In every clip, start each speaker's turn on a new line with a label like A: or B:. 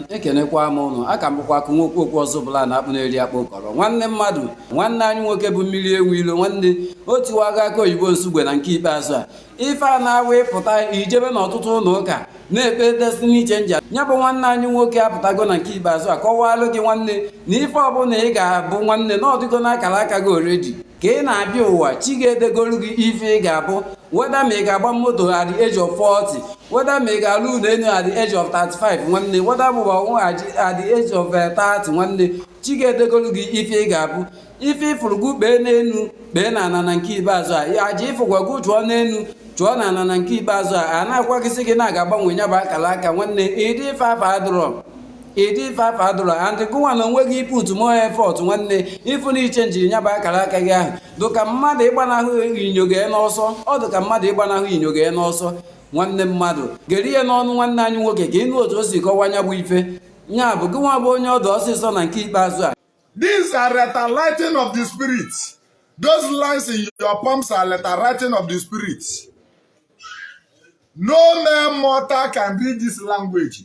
A: ekenekwa m ụnụ a ka m bụkwa akụ nwokwu okwu ọzọ bụla na akpụ na-eri akpụ kọrọ nwanne mmadụ nwanne anyị nwoke bụ mmiri enwe ilo nwanne otiwago aka oyibo nsugbe na nke ikpeazụ a ife a na-awa ịpụta ijebe n'ọtụtụ ụnọ ụka na-ekpe destiny changer nya bụ nwanne anyị nwoke apụtago na nke ikpeazụ a kọwaalụ gị nwanne na ife ọbụla ị ga-abụ nwanne na ọ dịgo n'akara aka gị already ka ị na-abịa ụwa chi gị edegolu gị ife ị ga-abụ whether ma ị ga-agba moto at the age of 40 whether ma ị ga-alụ ụlọ elu at the age of 35 nwanne whether ma ị mụwa nwa at the age of 30 eh, nwanne chi gị edegolu gị ife ị ga-abụ ife ị fụrụ gị kpee n'elu kpee na ana na nke ikpeazụ a aja ị fụkwa gị chụọ n'elu chụọ na ana na nke ikpeazụ a a na-agwa gị sị gị na a ga-agbanwe nya bụ akara aka nwanne ịdị ife afa adụrọ ịdị ife afọ adụrụ and gụnwa na onwe gị ị put more effort nwanne ị fụ na ịchange nya bụ akara aka gị ahụ dụka mmadụ ịgbanahụ inyo gị n'ọsọ ọ dụka mmadụ ịgbanahụ inyo gị n'ọsọ nwanne mmadụ gere ihe n'ọnụ nwanne anyị nwoke ka ị nụ otu o si kọwa nya bụ ife nya bụ gịnwa bụ onye ọdụ ọsịsọ na nke ikpeazụ a These are
B: letter writing of the spirit. Those lines in your palms are letter writing of the spirit. No mere mortal can read this language.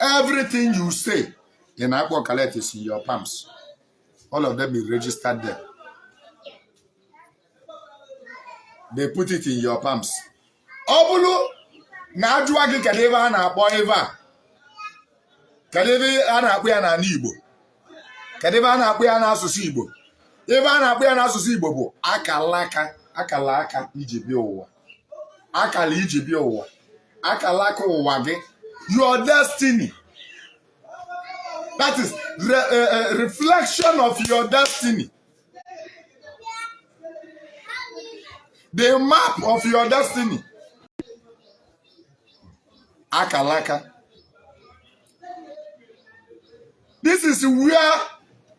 B: everything you say ị na-akpọ collect is in your palms all of them be registered there they put it in your palms ọ bụrụ na a jụa gị kedu ive a na-akpọ ive a kedu ive a na-akpọ ya n'ana Igbo kedu ive a na-akpọ ya n'asụsụ Igbo ive a na-akpọ ya n'asụsụ Igbo bụ akala aka akala aka i ji bịa ụwa akala i ji bịa ụwa akala aka ụwa gị your destiny that is re, uh, uh, reflection of your destiny the map of your destiny akala aka this is where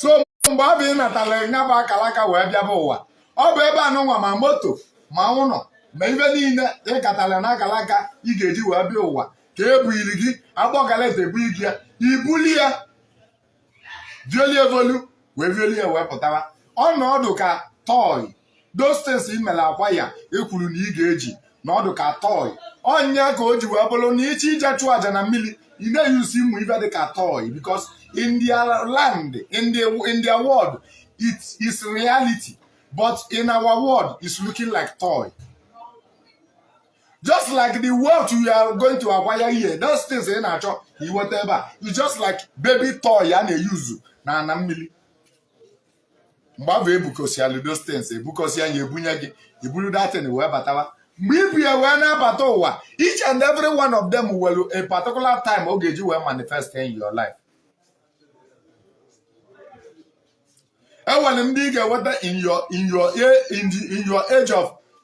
B: so mgbe ọ bụ ị natalụ nya bụ akala aka wee bịaba ụwa ọ bụ ebe anụnwa ma moto ma ụnọ ma ive niile ị katalụ na akala aka ị ga-eji wee bịa ụwa ka e buiri gị agbọkaleta ebu igi ya ibuli ya violie volu wee violie wee pụtara ọnọdụ ka toy those things i mere acquire e kwuru na ị ga-eji na ọ dụ ka toy ọ nya ka o ji wee bụrụ na iche ije chụọ aja na mmiri ị na-eyusi ụmụ ive dị ka toy because in their land in their, in their world it is reality but in our world it's looking like toy just like the wealth you are going to acquire here those things ị na-achọ iweta ebe a it's just like baby toy a na-eyuzu na ana mmiri mgbe afụ ebukọsịalụ those things ebukọsịa ya ebunye gị iburu that thing wee batawa mgbe ibu ya wee na-abata ụwa each and every one of them nwere a particular time ọ ga-eji wee manifest in your life enwere ndị ị ga-enweta in your in your in your age of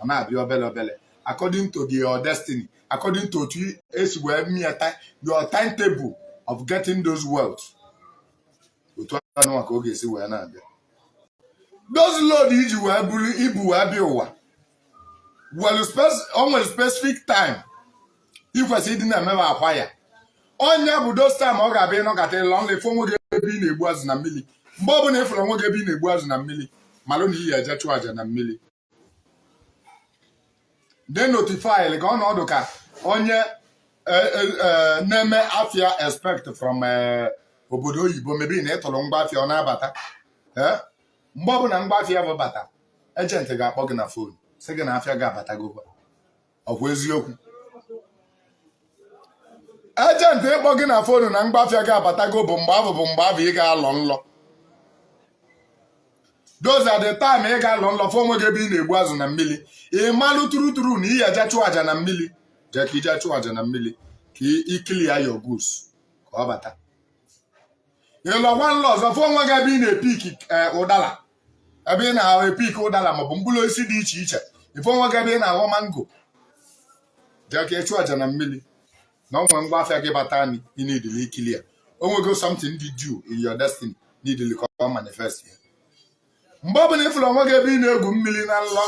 B: ọ na-abịa obele obele according to the your destiny according to otu esi wee meta your timetable of getting those wealth otu anụwa ka ọ ga-esi wee na-abịa those load iji wee buru ibu wee bịa ụwa o nwere specific time ikwesị ịdị na-eme acquire onye bụ those time ọ ga-abịa ịnọkata ịlọ nlọ ịfụ onwe gị ebe ị na-egbu azụ na mmiri mgbe ọ bụla ịfụrụ onwe gị ebe ị na-egbu azụ na mmiri malụ na ị ya-eje chụọ aja na mmiri they notify ka ọ na-adị ka onye e, e, e, na-eme afia expect from obodo oyibo maybe na ịtụrụ ngwa afia ọ na-abata mgbe ọbụla ngwa afia afụ bata agent ga-akpọ gị na phone sị gị na afia gị abatago ọkwa eziokwu agent ịkpọ gị na phone na ngwa afịa gị abatago bụ mgbe afụ bụ mgbe afụ ị ga-alọ nlọ those are the time ị ga-alọ nlọ fụ onwe gị ebe ị na-egbu azụ na mmiri ị malụ true true na ị ya-eje chụọ aja na mmiri jee ka ije chụọ aja na mmiri ka ị clear your goods ka ọ bata ịlọkwa nlọ ọzọ fụ onwe gị ebe ị na-epik ụdala ebe ị na-epik ụdala maọbụ mkpụrụ osisi dị iche iche ịfụ onwe gị ebe ị na-aghọ mango jee ka ịchụ aja na mmiri na onwe ngwa afịa gị batanụ ị needili ịclear onwego something dị due in your destiny needili ka ọ manifest ya mgbe ọ bụla ị fụrụ onwe gị ebe ị na-egwu mmiri na nlọ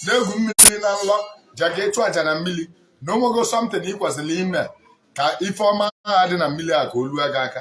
B: na-egwu mmiri na nlọ jee ka ịchụ aja na mmiri na onwego something ị kwesịrị ime ka ife ọma ahụ dị na mmiri a ka o lue gị aka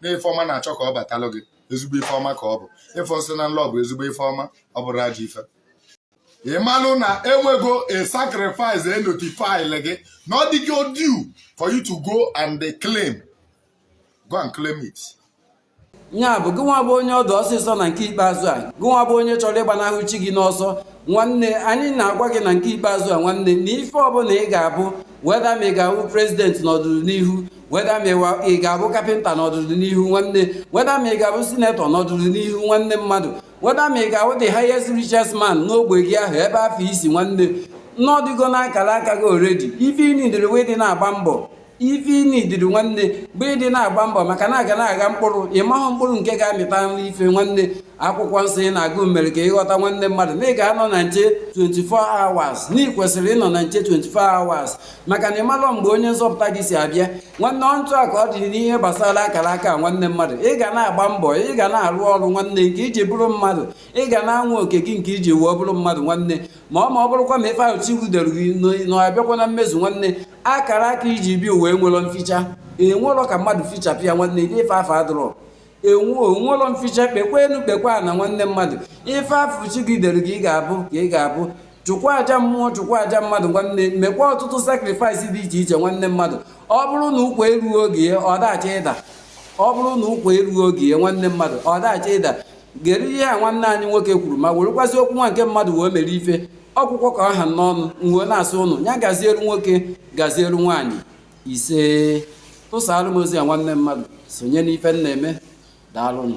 B: na ife ọma na-achọ ka ọ batalụ gị ezigbo ife ọma ka ọ bụ ịfụ nsị na nlọ bụ ezigbo ife ọma ọ bụrọ ajọ ife ị malụ na enwego a sacrifice e notify gị na ọ dịgo due for you to go and claim go and claim it.
A: ya bụ gịnwa bụ onye ọ dị ọsịsọ na nke ikpeazụ a gịnwa bụ onye chọrọ ịgbanahụ chi gị n'ọsọ nwanne anyị na-agwa gị na nke ikpeazụ a nwanne na ife ọbụla ị ga-abụ whether ma ị ga-awụ president n'ọdịnihu whether ma ịwa- ị ga-abụ carpenter n'ọdịnihu nwanne whether ma ị ga-abụ senator n'ọdịnihu nwanne mmadụ whether ma ị ga-awụ the highest richest man n'ogbe gị ahụ ebe afụ i si nwanne na ọ dịgo n'akara aka gị already ife ị needịrị bụ ịdị na-agba mbọ ife ị needịrị nwanne bụ ịdị na-agba mbọ maka na a ga na-agha mkpụrụ ị mahụ mkpụrụ nke ga-amịtanụ ife nwanne akwụkwọ nsọ ị na-agụ mere ka ị ghọta nwanne mmadụ na ị ga-anọ na nche 24 hours na ị kwesịrị ịnọ na nche 24 hours maka na ị malọ mgbe onye nzọpụta gị si abịa nwanne ọntụ a ka ọ dị n'ihe gbasara akara aka nwanne mmadụ ị ga na-agba mbọ ị ga na-arụ ọrụ nwanne nke iji bụrụ mmadụ ị ga na-anwa oko gị nke iji wee bụrụ mmadụ nwanne ma ọ ma ọ bụrụkwa na ife ahụ chi gị dere gị na ọ bịakwa na mmezu nwanne akara aka i ji bịa ụwa enwerọ mficha o nwerọ ka mmadụ fichapụ ya nwanne ife afụ adịrọ enwe o nwelọ mficha kpekwa enu kpekwa ana nwanne mmadụ ife afụ chi gị dere gị ị ga-abụ ka ị ga-abụ chụkwa aja mmụọ chụkwa aja mmadụ nwanne mekwa ọtụtụ sakrifais dị iche iche nwanne mmadụ ọ bụrụ na ụkwa eruo oge ya ọ dacha ịda ọ bụrụ na ụkwa eruo oge ya nwanne mmadụ ọ dacha ịda gere ihe a nwanne anyị nwoke kwuru ma werekwasị okwu nwanne mmadụ wee mere ife ọ bụkwa ka ọ ha n'ọnụ m wee na-asị ụnụ ya gaziere nwoke gaziere nwaanyị isee tụsaalụ m ozi a nwanne mmadụ sonye n'ife m na-eme daalụnụ